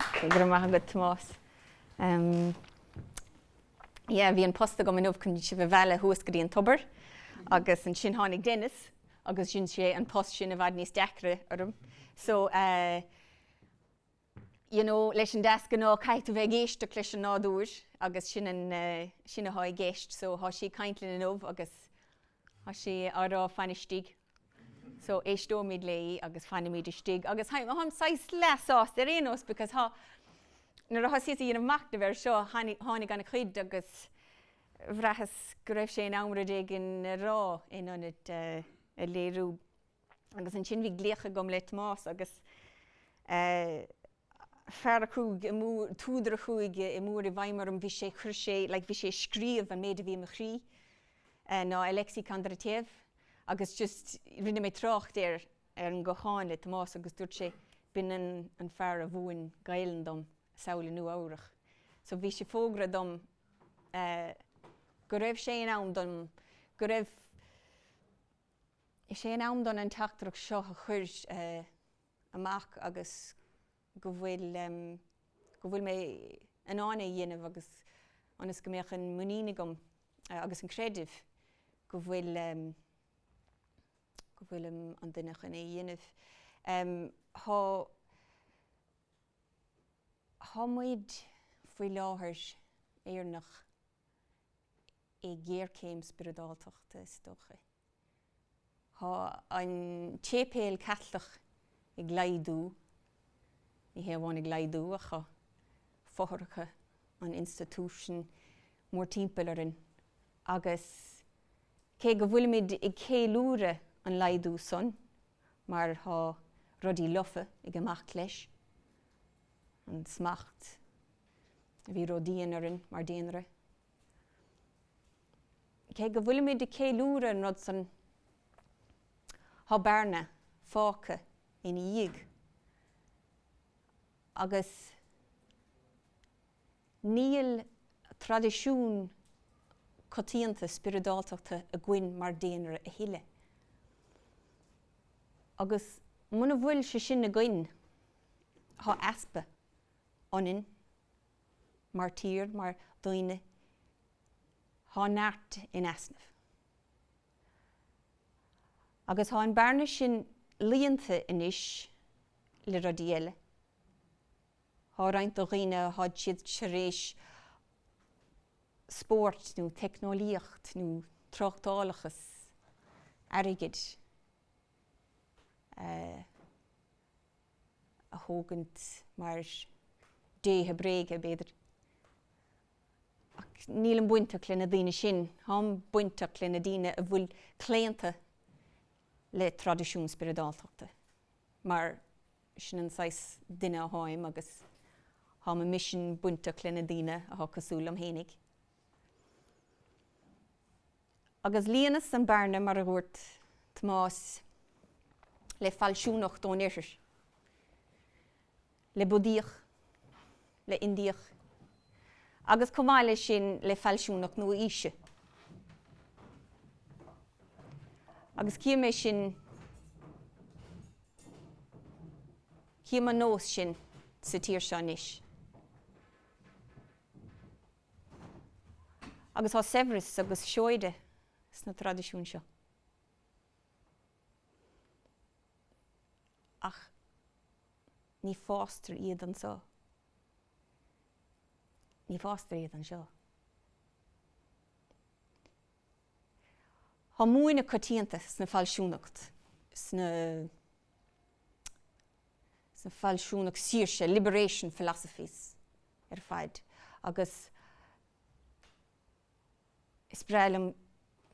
Go raibh maith agat, Tomás. Yeah, bhí an post agam inniu chun sibh a mhealladh thuas go dtí an tobar, agus ansin tháinig Dennis agus dhein sé an post sin i bhfad níos deacra orm. So, you know, leis an deasghnáth caithfidh tú a bheith ag éisteacht leis an nádúr agus sin athá i gceist. So, thá sí ag caint linn inniu agus thá sí á rá, fan istigh. so éisteoimid léi agus fanfaimid istigh agus tháim saghas leath-sásta ar aon nós because nuair a thosaíos a dhéanamh macnamh air seo tháinig ana-chuid agus bhraitheas go raibh sé in am rud éigin a rá in ionad a léiriú agus ansin bhí glaoch agam le Tomás agus fear a chuaigh, údar a chuaigh go mór i bhfeidhm orm, bhí sé, chuir sé, like bhí sé ag scríobh an méid a bhí i mo chroí, ná Alexei Kondratiev agus just rinne mé trácht ar ar an gcochán le Tomás agus dúirt sé, b'in an an fear a mhúin Gaelainn dom, thall i Nua-Eabhrac. So bhí sé ag fógairt dom go raibh sé in am dom, go raibh sé in am dom an teachtaireacht seo a chur, amach agus go bhfuil, go bhfuil mé in ann é a dhéanamh agus ionas go mbeadh an muinín agam agus an creideamh go bhfuil, go bhfuil an duine chun é a dhéanamh. Tá, thá muid faoi láthair, Éireannaigh, i ngéarchéim spioradáltachta, is dócha. Thá an séipéal Caitliceach ag laghdú, ní hé amháin ag laghdú ach tá fothracha an institution mór timpeall orainn agus cé go bhfuilimid ag ceiliúradh an laghdú san mar thá rudaí lofa ag imeacht leis, an smacht a bhí ródhian orainn mar daonra. Cé go bhfuilimid ag ceiliúradh an rud san, thá bearna fágtha ina dhiaidh agus níl traidisiún coitianta spioradáltachta againn mar daonra a thuilleadh. Agus muna bhfuil sé sin againn, thá easpa ionainn mar tír, mar daoine, thá neart in easnamh. Agus thá an bearna sin líonta anois le rudaí eile. Thá roinnt do dhaoine, tháid siad tar éis spórt nó teicneolaíocht nó tráchtálachas, airgead a. a thógaint mar dhéithe bréige, b'fhéidir. Ach nílim bainteach le na daoine sin, táim bainteach le na daoine a bhfuil claonta le traidisiún spioradáltachta, mar sin an saghas duine a tháim agus tá mo mhisean bainteach le na daoine atá cosúil liom fhéinig. agus líonas an bearna, mar a dhúirt Tomás, le fealsúnacht ón Oirthear, le Budaíoch, le Indiach, agus chomh maith le sin le fealsúnacht nua-aoise. Agus cím é sin, cím an nós sin sa tír seo anois. agus tá saibhreas agus seoide sna traidisiúin seo. Ach ní fástar iad anseo. Ní fástar iad anseo. Tá múineadh coitianta sna fealsúnacht, sna. sna fealsúnacht saoirse, liberation philosophies, ar fad agus is breá liom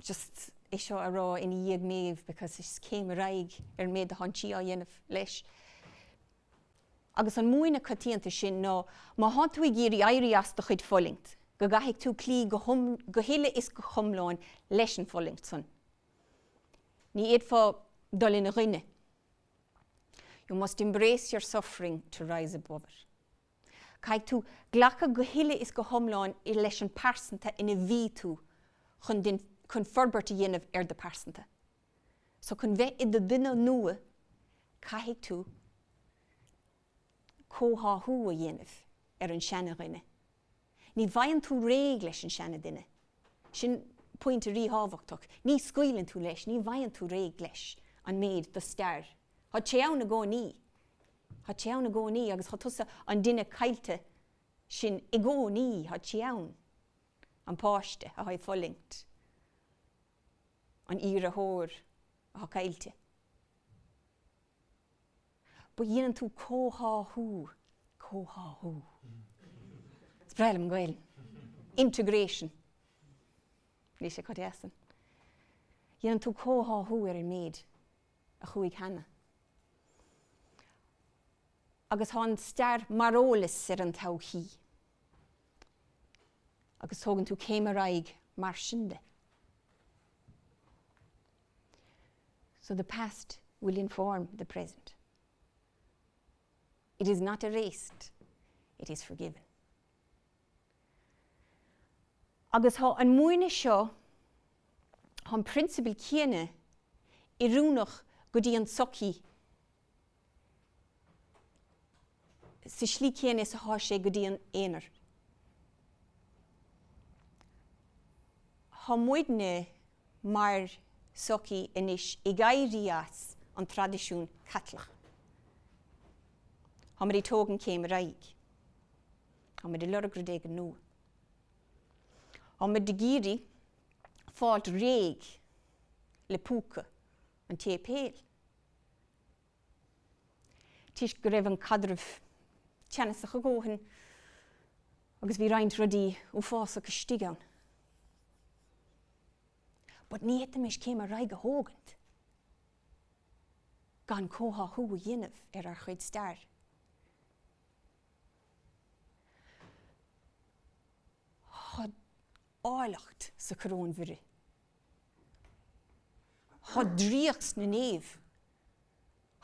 just é seo a rá ina dhiaidh Méabh because is céim ar aghaidh ar an méid do thánn tí á dhéanamh leis. Agus an múineadh coitianta sin ná má thánn tú ag iarraidh éirí as do chuid fulaingt, go gcaithfidh tú cloí go huile is go hiomlán leis an bhfulaingt san. Ní fhéadfá dul ina choinne You must embrace your suffering to rise above it. Caithfidh tú glacadh go huile is go hiomlán leis an pearsanta ina bhí tú chun forbairt a dhéanamh ar do pearsanta. So chun bheith i do dhuine nua caithfidh tú comhtháthú a dhéanamh ar an seana dhuine Ní bhfaigheann tú réidh leis an seanaduine. Sin pointe ríthábhachtach. Ní scaoileann tú leis, ní bhfaigheann tú réidh leis an méid do stair. Tá sí ann i gcónaí. Tá sí ann i gcónaí agus tá tusa, an duine caillte sin, i gcónaí. Tá sí ann. An páiste atá ag fulaingt. An iarratóir atá caillte. but dhéanann tú comhtháthú, comhtháthú, is breá liom an Gaelainn, integration, níl sé chomh deas sin, dhéanann tú comhtháthú ar an méid a chuaigh cheana. Agus tá an stair mar eolas ar an todhchaí. Agus tógann tú céim ar aghaidh mar sin de. So the past will inform the present. It is not erased, it is forgiven. Agus tá an múineadh seo, tá an principle céanna oiriúnach go dtí an sochaí sa slí céanna is athá sé go dtí an aonar. Tá muidne mar sochaí anois ag éirí as an traidisiún Caitliceach. Tá muid ag tógaint céim ar aghaidh. Tá muid ag lorg rud éigin nua. Tá muid ag iarraidh fáilt réidh le púca an tséipéil. toisc go raibh an caidreamh teannasach a dhóthain agus bhí roinnt rudaí uafásach istigh ann. But ní fhéadfaimis céim ar aghaidh a thógaint gan comhtháthú a dhéanamh ar ár chuid stair. Tá áilleacht sa Choróin Mhuire. Thá draíocht sna naoimh.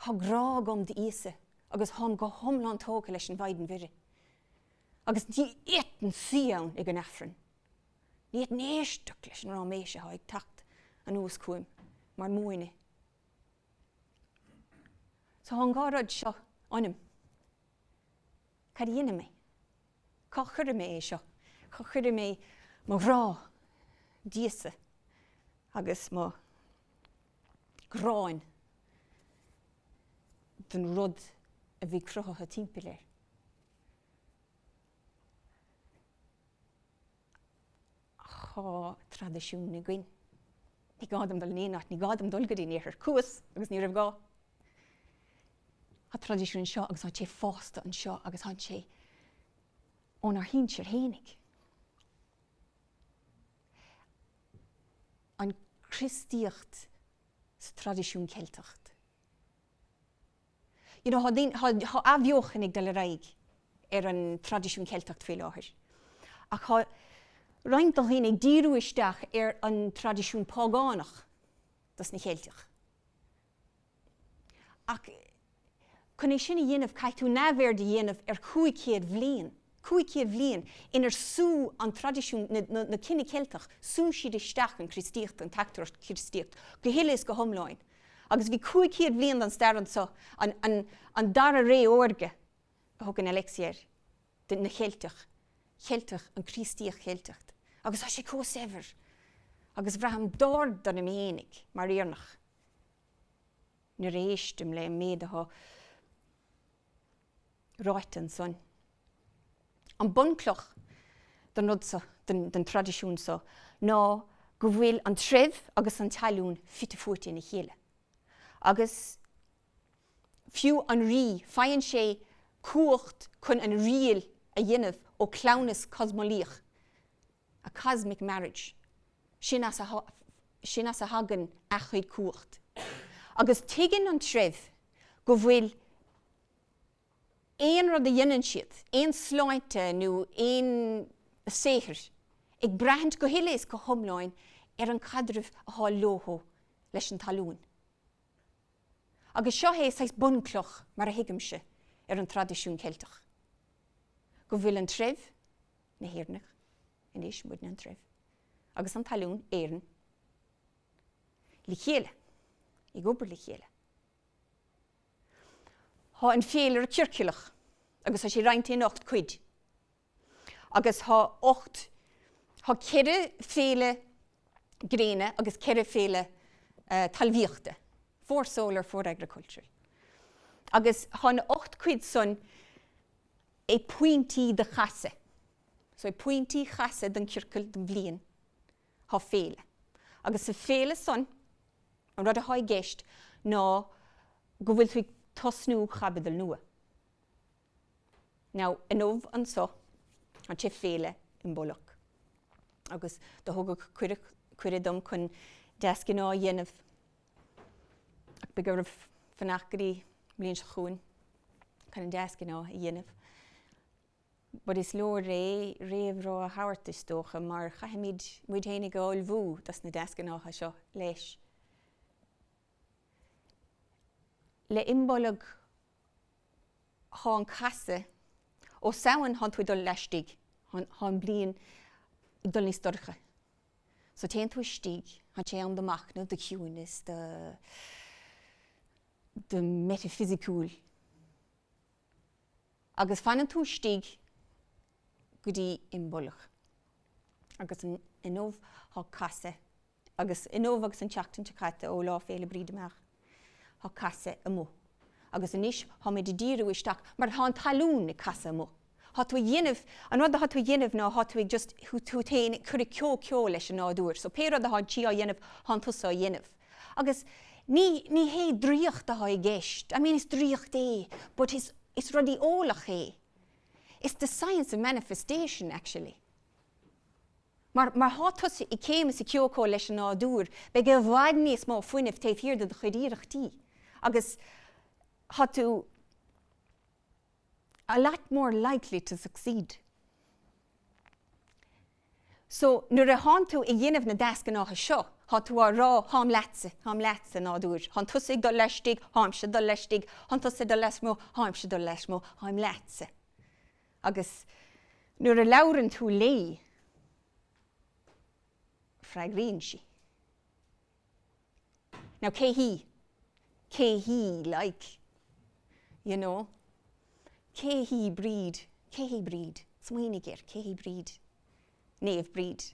Thá grá agam d'Íosa agus tháim go hiomlán tógtha leis an Mhaighdean Mhuire. Agus ní fhéadfainn suí ann ag an Aifreann. Ní fhéadfainn éisteacht leis an ráiméis athá ag teacht anuas chugaim mar múineadh. So thá an dhá rud seo ionam. Cad a dhéanfaidh mé? Cá chuirfidh mé é seo? Cá chuirfidh mé mo ghrá d'Íosa agus mo ghráin don rud a bhí cruthaithe timpeall air? Thá traidisiún againn. Ní gá dom dul in aon áit, ní gá dom dul go dtí an Oirthear, chuas agus ní raibh gá. Tá traidisiún anseo agus tá sé fásta anseo agus tá sé ónár shinsir fhéinig. An Chríostaíocht sa traidisiún Ceilteach. You know, tá daoine, tá, tá athbheochan ag dul ar aghaidh ar an traidisiún Ceilteacht faoi láthair. Ach tá roinnt de dhaoine ag díriú isteach ar an traidisiún págánach dos na Cheilteach. Ach, chun é sin a dhéanamh, caithfidh tú neamhaird a dhéanamh ar chúig chéad bhliain. 500 bhliain inar shú an traidisiún na cine Ceilteach, shú siad isteach an Chríostaíocht, an teachtaireacht Chríostaíocht, go huile is go hiomlán. Agus bhí 500 bhliain den stair anseo, an dara ré órga a thugann Alexie air, de na Cheilteach, Cheilteach, an Chríostaíocht Cheilteach. Agus tá sé chomh saibhir. Agus braithim bród orm fhéinig, mar Éireannach, nuair a éistim le an méid atá. ráite ansan. An bunchloch den rud so, den traidisiún so, ná go bhfuil an treibh agus an talún fite fuaite ina chéile. Agus fiú an rí, faigheann sé cumhacht chun an riail a dhéanamh ó chleamhnas cosmolaíoch. a cosmic marriage, sin as a thagann a chuid cumhacht. Agus tuigeann an treibh go bhfuil aon rud a dhéanann siad, aon sláinte nó aon saothar, ag braithint go huile is go hiomlán ar an gcaidreamh atá leothu leis an talún. Agus seo é saghas bunchloch, mar a thuigimse, ar an traidisiún Ceilteach, go bhfuil an treibh, na hÉireannaigh anois, muidne an treibh agus an talún, Éireann, le chéile, ag obair le chéile. Tá an féilire ciorclach agus tá sé roinnte in ocht cuid agus tá ocht, tá ceithre féile gréine agus ceithre féile talmhaíochta, four solar, four agricultural. Agus tá na ocht cuid san, ag pointí do chasadh so ag pointí chasadh den chiorcal don bhliain thá féile agus sa féile san an rud athá i gceist ná go bhfuil tú ag tosnú chaibidil nua. Now inniu anso tá sé féile Imbolc agus do tugadh cuireadh dom chun deasghnáth a dhéanamh, Ach beidh oraibh fanacht go dtí an bhliain seo chugainn chun an deasghnáth a dhéanamh. But is leor é réamhrá a thabhairt, is dócha, mar caithfimid muid fhéinig a ullmhú dos na deasghnátha seo, leis. Le Imbolg thá an casadh, ó Samhain thá tú ag dul laistigh, thá an bhliain ag dul níos dorcha. So téann tú istigh, tá sé am do mhachnamh, do chiúnas, do, do meitifisiciúil. Agus fanann tú istigh go dtí Imbolg. Agus inniu tá casadh, agus inniu agus an tseachtain seo caite ó Lá Fhéile Bríde amach. Tá casadh amuigh. Agus anois tháimid ag díriú isteach mar athá an talún ag casadh amuigh. Thá tú a dhéanamh, an rud athá tú a dhéanamh ná thá tú ag just, tú féin a chur i comhcheol leis an nádúr. So pé rud athá an tír á dhéanamh, thánn tusa á dhéanamh. Agus ní, ní hé draíocht athá i gceist, I mean is draíocht é, but is, is rudaí eolach é. It's the science of manifestation, actually. Mar thá tusa i céim is i comhcheol leis an nádúr, beidh i bhfad níos mó fuinnimh taobh thiar de do chuid iarrachtaí agus thá tú a lot more likely to succeed. So, nuair a thánn tú ag dhéanamh na deasghnátha seo, thá tú á rá, Tháim leatsa, tháim leatsa, a nádúir, thánn tusa ag dul laistigh, tháimse ag dul laistigh, thánn tusa ag dul lasmuigh, tháimse ag dul lasmuigh, tháim leatsa. Agus nuair a labhrann tú léi, freagraíonn sí. Now cé hí? Cé hí like? You know? Cé hí Bríd? Cé hí Bríd? Smaoinigh air, cé hí Bríd? Naomh Bríd.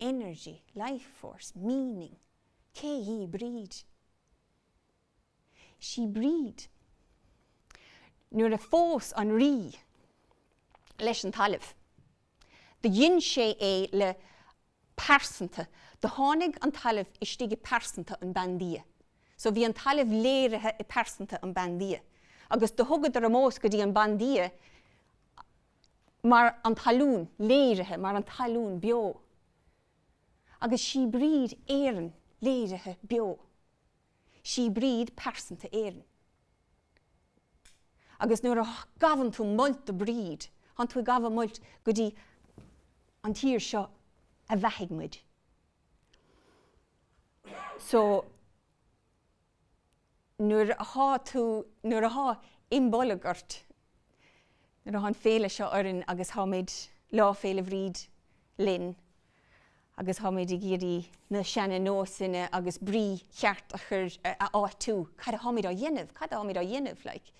energy, life force, meaning, Cé hí Bríd? Sí Bríd. Nuair a phós an rí leis an talamh, do dhein sé é le pearsanta, do tháinig an talamh istigh i pearsanta an bandia. So bhí an talamh léirithe i pearsanta an bandia agus do thugadar omós go dtí an bandia mar an talún, léirithe mar an talún beo, agus Sí Bríd Éireann léirithe beo, Sí Bríd pearsanta Éireann. Agus nuair a gabhann tú molta do Bríd, thánn tú ag gabháil molta go dtí an tír seo a bheathaigh muid. So. nuair athá tú, nuair athá Imbolg ort, nuair athá an féile seo orainn agus tháimid, Lá Féile Bhríd linn agus tháimid ag iarraidh na seana-nósanna agus brí cheart a chur, a áitiú, cad atháimid á dhéanamh, cad atháimid á dhéanamh like?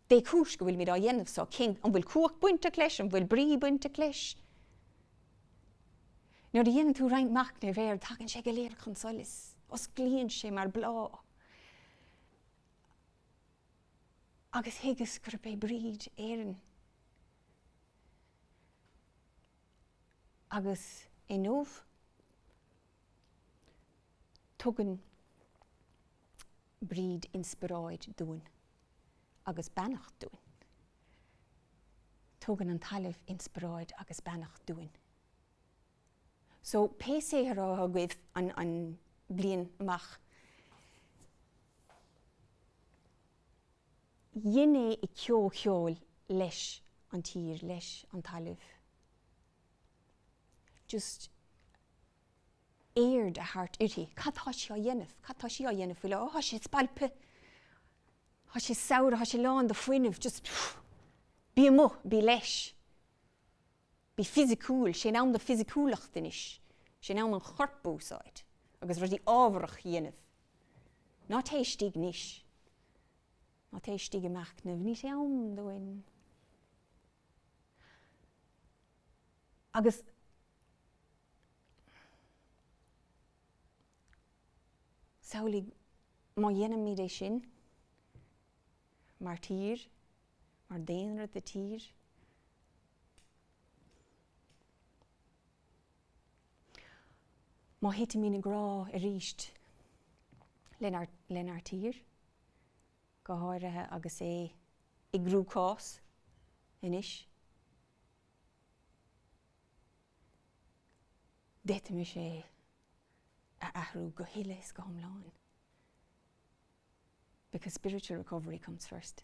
Dé chúis go bhfuilimid á dhéanamh so, cén, an bhfuil cumhacht bainteach leis, an bhfuil brí bainteach leis? Nuair a dhéanann tú roinnt machnaimh air, tagann sé go léir chun solais, osclaíonn sé mar bláth. Agus thuigeas gurb é Bríd Éireann. Agus inniu, Tugann Bríd inspioráid dúinn agus beannacht dúinn. Tugann an talamh inspioráid agus beannacht dúinn. So pé saothar atá agaibh an bhliain amach, déan é i gcomhcheol leis an tír, leis an talamh. just aird a thabhairt uirthi. Cad tá sí á dhéanamh? Cad tá sí á dhéanamh faoi láthair? Tá sé spailpthe. Tá sé saibhir, tá sé lán de fuinneamh, just bí amuigh, bí leis. Bí fisiciúil, 'sé an t-am do fisiciúlacht anois, 'sé an t-am an chorp a úsáid agus rudaí ábharach a dhéanamh. Ná téigh isteach anois, ná téigh isteach i machnamh, ní hé an t-am do sin. agus samhlaigh má dhéanaimid é sin mar tír, mar daonra de tír. Má thitfimid i ngrá aríst lenár tír, go háirithe agus é i gcruachás anois, d'fhéadfaimis é a athrú go huile is go hiomlán, because spiritual recovery comes first.